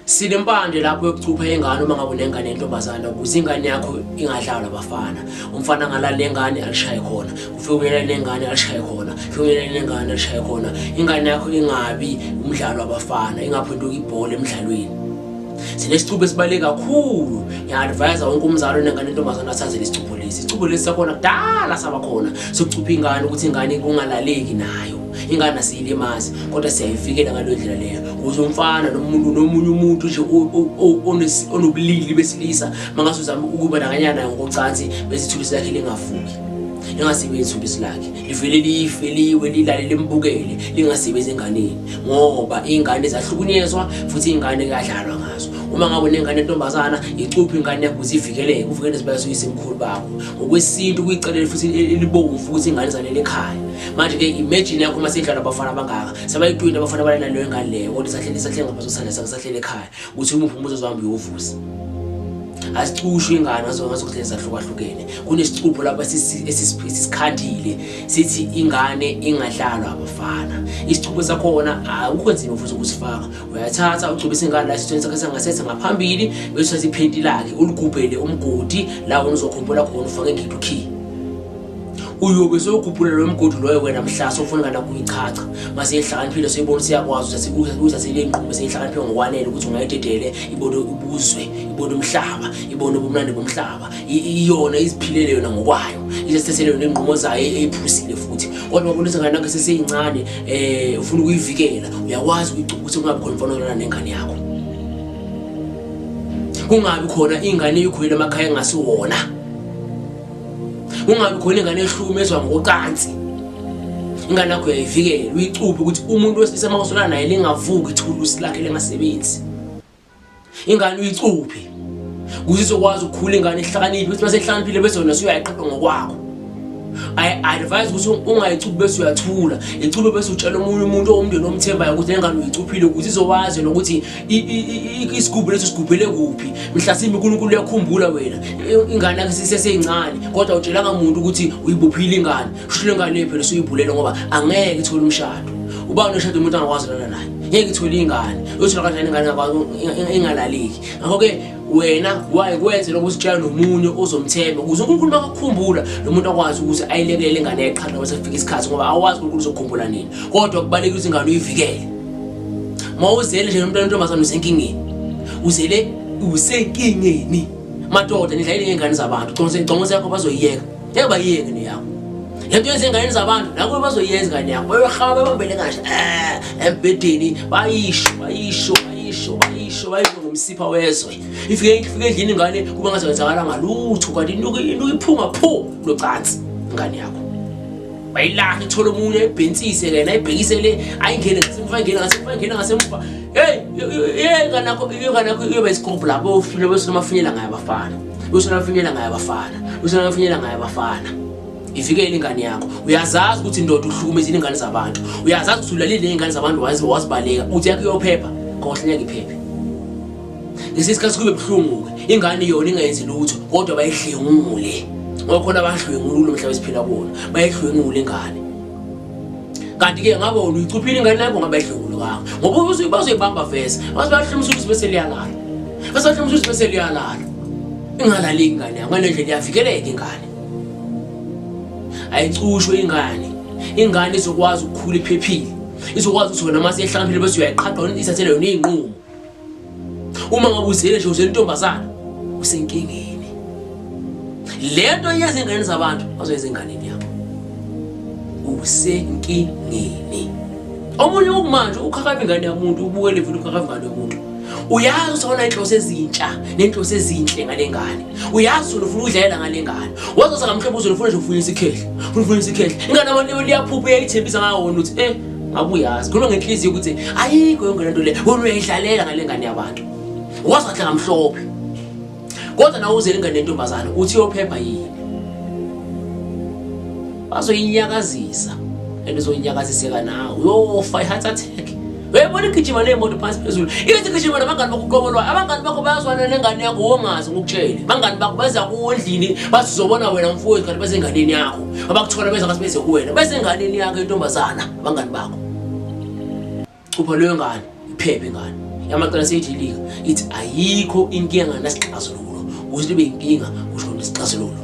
sinempande lapho yokucupha ingane uma ngabe unengane yentombazane ukuze ingane yakho ingadlalwa abafana umfana angalala nengane alishaye khona ufike uyelele nengane alishaye khona ufike uyelele nengane alishaye khona ingane yakho ingabi umdlalo wabafana ingaphenduka ibhola emdlalweni sinesicupho esibaluleke kakhulu ngiya-advayisa wonke umzali onengane yentombazane asazele isicupho lesi isicupho lesi sakhona kudala saba khona sokucupha ingane ukuthi ingane kungalaleki nayo ingane asiyilimazi kodwa siyayivikela ngaleyo ndlela leyo ukuze umfana nomuntu nomunye umuntu nje onobulili besilisa mangase uzama ukuba nakanyana ngokocansi bezithulusi lakhe lingavuki lingasebenzi ithulusi lakhe livele life liwe lilale limbukele lingasebenzi enganeni ngoba iy'ngane zahlukunyezwa futhi iy'ngane kuyadlalwa ngazo uma ngabe unengane entombazana icuphe ingane yakho ukuze ivikeleke uvikele nezibaya soyisemkhulu bakho ngokwesintu kuyicelele futhi elibomvu ukuthi ingane zanele ekhaya manje ke imagine yakho uma sidlala abafana abangaka sebayitwini abafana balena leyo ngane leyo kodwa isahlele isahlele ngabazosana sakusahlele ekhaya ukuthi umuphi umuntu ozohamba uyovusa asicushwe ingane ngazokuhlele zahlukahlukene kunesicupho lapho esisikhandile sithi ingane ingadlalwa abafana isicupho sakhona akukho nzima futhi ukusifaka uyathatha ugcobisa ingane la esithweni sakhe sangasese ngaphambili bese uthatha iphenti lakhe uligubhele umgodi la wona uzokhumbula khona ufake ngidukhiye uyobe sewugubhula lo mgodi loyo wena mhla sofuna ngana kuyichacha mase ihlakaniphile seyibona siyakwazi ukuthi sikuze kuze selengqume seyihlakaniphile ngokwanele ukuthi ungayidedele ibone ubuzwe ibone umhlaba ibone ubumnandi bomhlaba iyona iziphilele yona ngokwayo isesithethele yona ingqumo zayo e-, eyiphusile futhi kodwa ubona ukuthi ngana kase seyincane eh ufuna ukuyivikela uyakwazi ukugcina ukuthi kungabi khona mfana olana nengane yakho kungabi khona ingane eyikhulele emakhaya engasiwona ungabi khona ingane ehlukumezwa ngocansi ingane yakho uyayivikela uyicuphe ukuthi umuntu wesilisa uma usola naye lingavuki ithulusi lakhe lengasebenzi ingane uyicuphe kuze izokwazi ukukhula ingane ihlakaniphe ukuthi uma sehlakaniphile bese wena usuyayiqapha ngokwakho i-advise ukuthi ungayicuphi bese uyathula icuphe bese utshela omunye umuntu owumndeni omthembayo ukuthi nengane uyicuphile ukuthi izowazi nokuthi isigubhu leso sigubhele kuphi mhlasimbe unkulunkulu uyakhumbula wena ingane yakhe siseseyincane kodwa utshelanga muntu ukuthi uyibophile ingane kusho le ngane phela usuyibhulele ngoba angeke ithole umshado uba unoshada umuntu angakwazi lana naye ngeke ithole ingane uyothola kanjani ingane ingalaleki ngakho-ke wena waye kwenze lokho usitshela nomunye ozomthemba ukuze unkulunkulu bakakhumbula lo muntu akwazi ukuthi ayilekelele ingane yaqhala ngoba sekufika isikhathi ngoba awazi unkulunkulu uzokhumbula nini kodwa kubalulekile ukuthi ingane uyivikele ma uzele nje nomntwana ontombazane usenkingeni uzele usenkingeni madoda nidlayile ngey'ngane zabantu congonse yakho bazoyiyeka ngeke bayiyeke neyakho le nto yenza ey'nganeni zabantu nakho bazoyenza ingane yakho bayohaba bebambele kahle eh, embhedeni bayisho bayisho bayisho bayisho bayisho ngomsipha wezwe ifike ifike endlini ingane kuba ngazokwenzakala ngalutho kanti inuke iphuma phu locansi ingane yakho bayilahla ithole omunye ayibhensise lena ayibhekise le ayingene ngasemuva ayingene ngasemuva ayingene ngasemuva heyi yekanakho yekanakho iyoba isikobhu lapho ofile besona amafinyela ngayo abafana besona amafinyela ngayo abafana besona amafinyela ngayo abafana ivikele ingane yakho uyazazi ukuthi indoda uhlukumeza iy'ngane zabantu uyazazi ukuthi ulalile ney'ngane zabantu wazibaleka uthi yakho iyophepha kohle ngeke iphephe Ngesinye isikhathi kube buhlungu-ke ingane yona ingayenzi lutho kodwa bayihlengule ngokhona abadlwengula kulo mhlaba esiphila kuwona bayihlwengule ingane kanti-ke ngabe wona uyicuphile ingane yakho ngabe ayihlengulukanga ngoba bazoyibamba vese base bahlomisa ukuthi bese liyalala base bahlomisa ukuthi bese liyalala ingalaleki ingane yakho ngale ndlela iyavikeleka ingane ayicushwe ingane ingane izokwazi ukukhula iphephile izokwazi ukuthi wena uma seyihlakaniphile bese uyayiqhaqha ithathele yona iy'nqumo uma ngabe uzele nje uzele intombazana usenkingeni lento yenza ingane zabantu bazoyenza enganeni yakho usenkingeni omunye ukumanje ukhakaba ingane yamuntu ubukele futhi ukhakaba ingane yomuntu uyazi ukuthi awona inhloso ezintsha nenhloso ezinhle ngale ngane uyazi ufuna ukudlalela ngale ngane wazosa ngamhlobo uzofuna nje ukufuna isikhehle ufuna ukufuna isikhehle ingane abantu liyaphupha uyayithembisa ngawo ukuthi eh ngabe uyazi khuluma ngenhliziyo ukuthi ayikho yonke lento le wena uyayidlalela ngale ngane yabantu wazi kahle ngamhlophe kodwa nawe uzele ingane yentombazane uthi yophepha yini bazoyinyakazisa and uzoyinyakaziseka nawe uyofa i-heart attack uyayibona igijima neemoto phansi phezulu ithi gijima nabangani bakho uqobolwayo abangani bakho bayazwana nengane yakho wongazi ngokutshele bangani bakho baza kuwo endlini bazizobona wena mfowethu kanti basenganeni yakho abakuthola beza ngathi beze kuwena bese enganeni yakho intombazana abangani bakho cupha leyo ngane iphephe ngane yamaqala seyidilika ithi ayikho inkinga nasixazululo ukuthi libe inkinga kusho nesixazululo